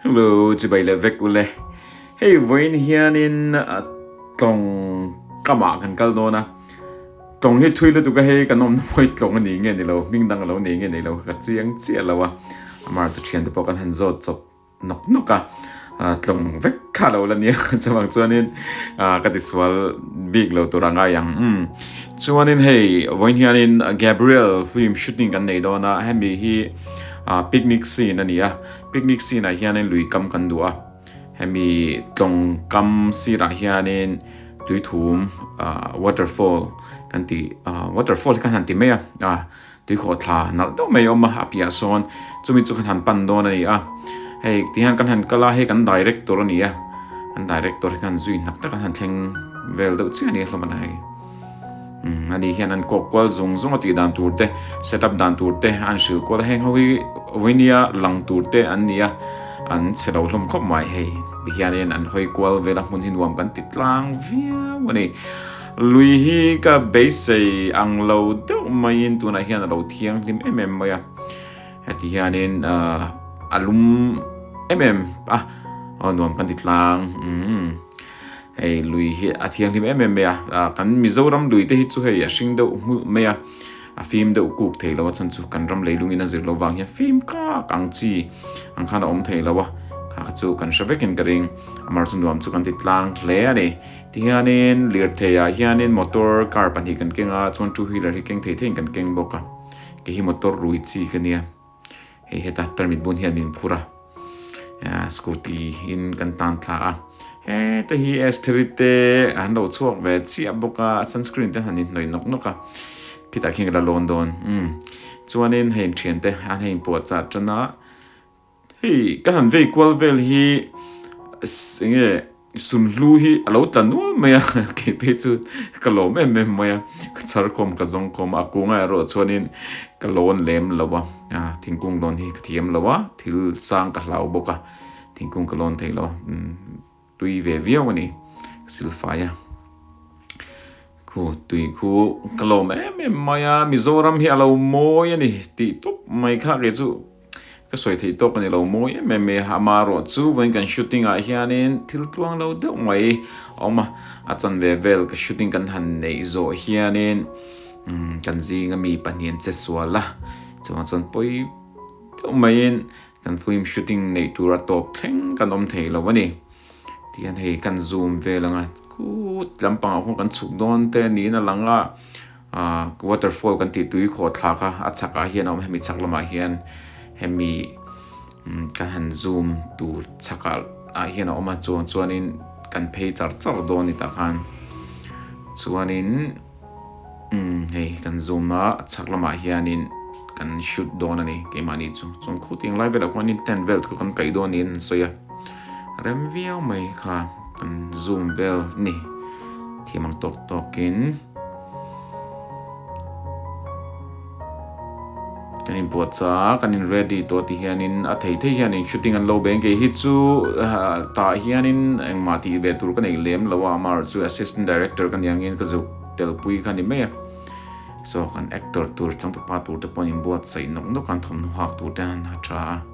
Hello, chibai leh vek ule. Hei vawiin hianin tlawng kamah kan kal dawn a. Tlawng hi thui lutuk a, hei kan awmna pawh hi tlawng a nih ngei ni lo, hming dang a lo nei ngei neih lo kha ka chiang chiah lo a. Amar chu thiante pawh kan han zawt chawp nawk nawk a, tlawng vek kha a lo la nia chuvang chuanin ka tisual bik lo tur a ngai ang. Chuanin hei vawiin hianin Gabriel film shooting kan nei dawn a, hemi hi. Ahh picnic scene a ni a picnic scene ah hian in lui kam kan duh a hemi tlawng kam sir ah hian in tui thum ahh water fall kan ti ahh water fall hi khan han ti mai a ahh tui khaw thla nalh deuh mai a awm a a piah ah sawn chumi chu khan han pan dawn a ni a hei ti hian kan han kal a hei kan director a ni a kan director hi khan zui hnak tak a han thleng vel deuh chiah a ni a hlawmna ah hian. Umm, ani hian an kawk kual zung zung a tih dan tur te, set up dan tur te an hrilh kual a, heng ho hi Vinya lang tur te an ni a, an chhe lo hlawm khawp mai hei. Tihianin an hawi kual vel a hmun hi nuam kan ti tlang viau a ni. Lui hi ka beisei ang lo deuh maiin tunah hian a lo thiang hlim em em mai a, heti hianin a lum em em a, aw nuam kan ti tlang umm. Hei lui hi a thianghlim em em mai a, ah kan Mizoram lui te hi chu hei a hring deuh nghulh mai a, a fim deuh kuk thei lo a chhan chu kan ram leilungin a zir lo vang hian fim kak ang chi ang khan a awm thei lo a, kha chu kan hre vekin ka ring, amar chu nuam chu kan ti tlang hle a ni. Tihianin lirthei ah hianin motor car pahnih kan keng a, chuan two wheeler hi keng thei thei in kan keng bawk a, kei hi motor rui chi ka nia. hei heta permit bun hi an min phur a scooty in kan tan thla a heta hi s thiri te an lo chhuak ve chiah bawk a sunscreen te han in hnawih nawk nawk a khitah khian ka la lawn dawn um chuanin hei an thian te an hei puah chah tan a hei ka han vei kual vel hi enge Sunhlu hi a lo tla nual mai a, kei phei chu ka lawm em em mai a, ka chhar khawm ka zawng khawm a, a kung erawh chuanin ka lawn lem lo a, thingkung lawn hi ka thiam lo a, thil sang ka hlau bawk a, thingkung ka lawn theih lo a, tui ve viau a ni, ka silfai a, khu tui khu ka lawm em em mai a, Mizoram hi a lo mawi a ni tih tawp mai kha kei chu. Ka sawi theih tawk a ni lo mawi em em i ama erawh chu vawiin kan shooting ah hianin thil tluang lo deuh mai a awm a, a chanve vel ka shooting kan han neih zawh hianin kan zinga mi pahnihin che sual a, chungah chuan pawi deuh maiin kan film shooting neih tura tawp thleng kan awm thei lo a ni. Tihian hei kan zoom vel anga khut lampangah khuan kan chhuk dawn te niin a lang a. Ahh waterfall kan tih tui khawh thlak a a chhak ah hian a awm a hemi chhak lamah hian hemi umm ka han zoom tur chhak ah ah hian a awm a chuang chuanin kan phei char char dawn ni tah khan chuanin umm hei kan zoom a a chhak lamah hianin kan shoot dawn a ni keimah ni chu chuan khutiang lai velah khuanin tent vel chu kan kaih dawn niin an sawi a. Rem viau mai kha kan zoom vel ni thiam ang tawk tawk in kan in buat sa a kan in ready tawh ti hian in a thei thei hian in shooting an lo be ang kei hi chu tah hian in engmah tih ve tur ka nei lem lo a ama erawh chu assistant director ka ni ang in ka zuk tel pui kha ni mai a so kan actor tur changtu pa tur te pawh an in buat saih nawk nawk a an thawmhnaw hak tur te an ha tha a.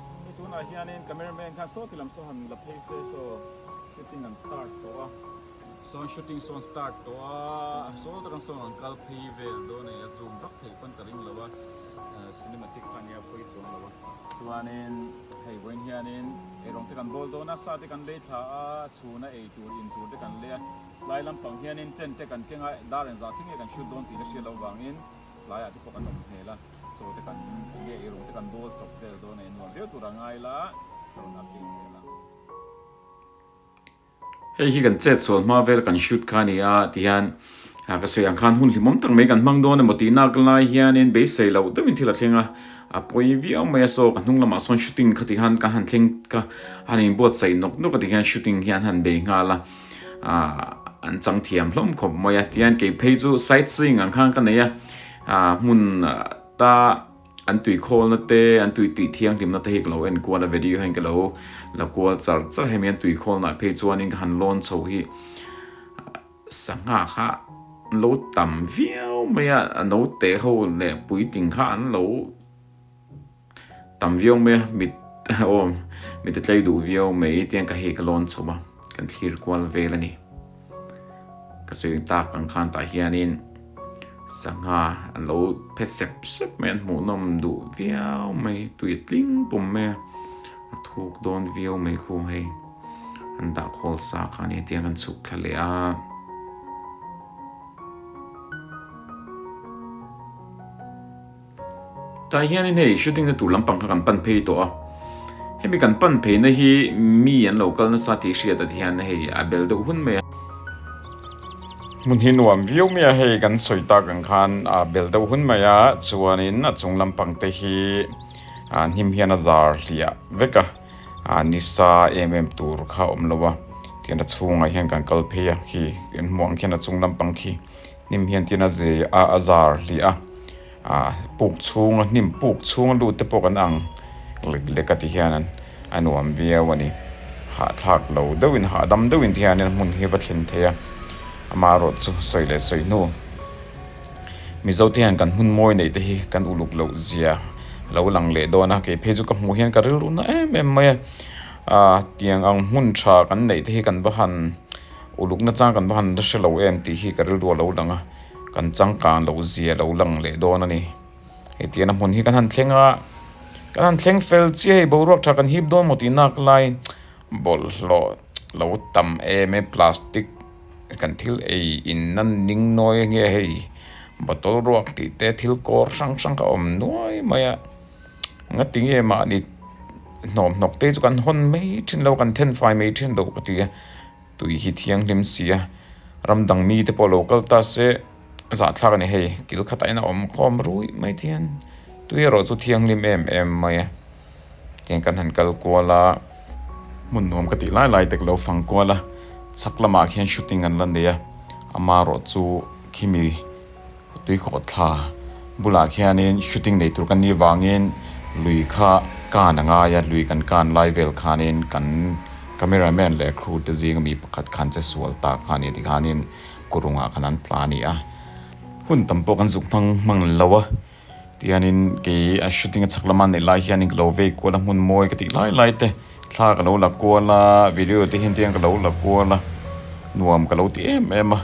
Hei tunah hianin camera man khan saw ti lam saw han la phei se saw shooting han start tawh a. Sawn shooting sawn start tawh a, saw tak ang sawn rawn kal phei vel dawn a nih a zoom rak theih pawn ta ring lo a, cinematic khan nia phawi chuang lo a. Chuanin hei vawiin hianin erawng te kan bawl dawn a, sa te kan lei thla a, chhun a ei tur in tur te kan lei a, tlai lampang hianin tent te kan keng a, dar en zah thleng nge kan shoot dawn tih ka hriat loh vangin tlaiah te pawh kan awm hmel a, chaw te kan ti nge i, rung te kan bawl chawp vel dawn a, in nuam viau tura ngai la rawn ap ding zel a. Hei hi kan chet sual hma vel kan shoot kha a ni a ti hian ka sawi ang khan hun hlimawm tak mai kan hmang dawn emaw tih nak lai hianin beisei loh deuhin thil a thleng a, a pawi viau mai a saw ka hnung lamah sawn shooting kha ti khan ka han thleng kha a han in buatsaih nawk nawk a ti hian shooting hian a han be nghal a. an chang thiam hlawm khawp mai a tihian kei phei chu side seeing ang khan ka nei a hmun ta an tui khawl na te an tui tih thiang hlim na te hi ka lo en kual a video hian ka lo la kual char char hemi an tui khawl na phei chuan in ka han lawn chho hi sangha kha lo tam viau mai a no te ho le pui ting kha an lo Tam viau mai a, mit aw mit a tlei duh viau mai tiang ka hei ka lawn chho a, kan thlir kual vel a ni. Ka sawi ang tak ang khan tah hianin sangha an lo phet sep sep mai an hmuhnawm duh viau mai, tui a tling pum mai a, a thuk dawn viau mai khu hei an dah khawl sa kha ania tiang kan chhuk thla leh a. Tlai hianin hei shooting na tur lampang kha kan pan phei tawh a, hemi kan pan phei na hi mi an lo kal nasa tih hriat a ti hian hei a bel deuh hun mai a, hmun hi nuam viau mai a hei kan sawi tak ang khan a bel deuh hun mai a chuanin a chung lampang te hi a hnim hian a zar hliah vek a, nisa em em tur kha a awm lo a, tian a chhungah hian kan kal phei a khi kan hmuh ang khian a chung lampang khi. hnim hian tin a zeh a a zar hliah a ah puk chhunga hnim puk chhunga lut te pawh kan ang lek lek a ti hian an a nuam viau a ni hahthlak lo deuh in hahdam deuh in te hian in hmun hi va thlen thei a ama erawh chu sawi leh sawi hnu mizo te hian kan hmun mawi neih te hi kan uluk loh zia a lo lang leh dawn a kei phei chu ka hmuh hian ka rilru na em em mai a ah tiang ang hmun tha kan neih te hi kan va han. Uluk nachang kan va han la hre lo em tih hi ka rilruah lo lang a, kan changkan lo zia lo lang leh dawn a ni. Hei ti ana hmun hi kan han thleng a, kan han thleng fel chiah hei boruak tha kan hip dawn maw tih nak lai bawlhhlawh lo tam em e plastic kan thil ei in nan ning nuai ange hei bottle ruak tih te thil kawr hrang hrang kha awm nuai mai a. nga ti nge mahni hnawm hnawk te chu kan hawn mai thin lo kan then fai mai thin lo ka ti a tui hi thianghlim sia ram dang mi te pawh lo kal ta se zah thlak a ni hei kil khat ah hian a awm khawm ruih mai thin tui erawh chu thianghlim em em mai a tiang kan han kal kual a hmun nuam ka tih lai lai te ka lo fang kual a chhak lamah khian shooting an la nei a ama erawh chu khi mi. Tuikhawh thla bulah khianin shooting nei tur kan nih vangin lui kha kan a ngai a, lui kan kan lai vel khanin kan camera man leh crew te zinga mi pakhat khan che sual ta kha ni tikhanin khawrungah khan an tla a ni a, hun tam pawh kan zuk hmang hmang lo a tianin kei a shooting a chhak lama neih lai hianin ka lo vei kual a hmun mawi ka tih lai lai te. Thla ka lo la kual a, video te hian tiang ka lo la kual a, nuam ka lo ti em em a,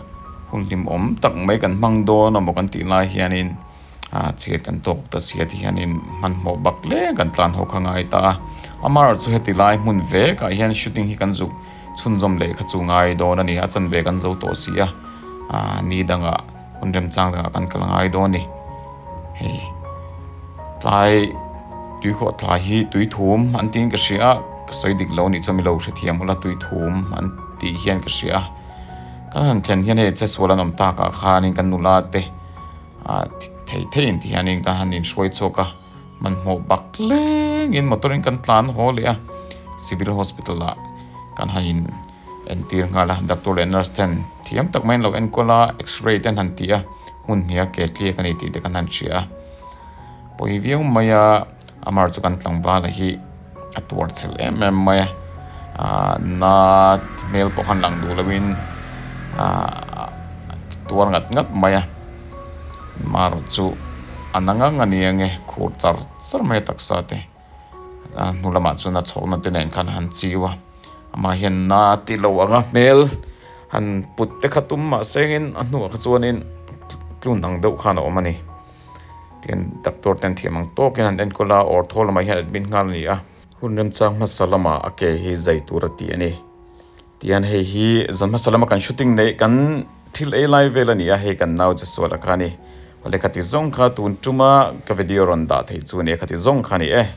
hun hlim awm tak mai kan hmang dawn a maw kan tih lai hianin ah chhiat kan tawk ta si a ti hianin hmanhmawh bak leh kan tlan ho kha ngai ta a, amaherawhchu chu heti lai hmun vekah hian shooting hi kan zuk chhunzawm leh kha chu ngai dawn a ni a, a chanve kan zo tawh si a, ah ni dangah. Hun remchang leh ah kan kal ngai dawn ni. Hei tlai tui khawh tlai hi tui thum an tiin ka hria a, ka sawi dik lo nih chuan milo hrethiam ula tui thum an tih hian ka hria a. Ka han thlen hian hei Chasual an awm tak ah khanin ka nula te ah thei thei in ti hianin ka han in hruai chhuak a, hmanhmawh bak tlengin motor in kan tlan haw leh a, Civil Hospital ah kan han in. Entir nghal a, doctor leh nurse ten thiam tak maiin lo enkawl a, x-ray ten han ti a, hun hniha ke tliek a ni tih te kan han hria a. Pawi viau mai a, Amar chu kan tlangval a hi a tuar chhel em em mai a, na hmel pawh khan lang duh lovin a tuar ngat ngat mai a, Maru chu a na ngang a nia nge, khur char char mai a taksa te. A hnu lamah chuan a chhawkna te nen khan han chiu a, amah hian na ti lo ang a hmel han put te kha tum mah sengin a hnua kha chuanin tlun ang deuh khan a awm a ni. Tin, doctor ten thiam ang tawkin han enkawl a, awrtho lamah hian admit nghal a ni a. Hun remchang hmasa lama a ke hi zai tur a ti a ni. Tian hei hi zan hmasa lama kan shooting neih kan thil ei lai vel a ni a, hei kan nau che sual a kha a ni. Awle khati zawng kha tun tuma ka video rawn dah theih chu a ni a, khati zawng kha a ni e.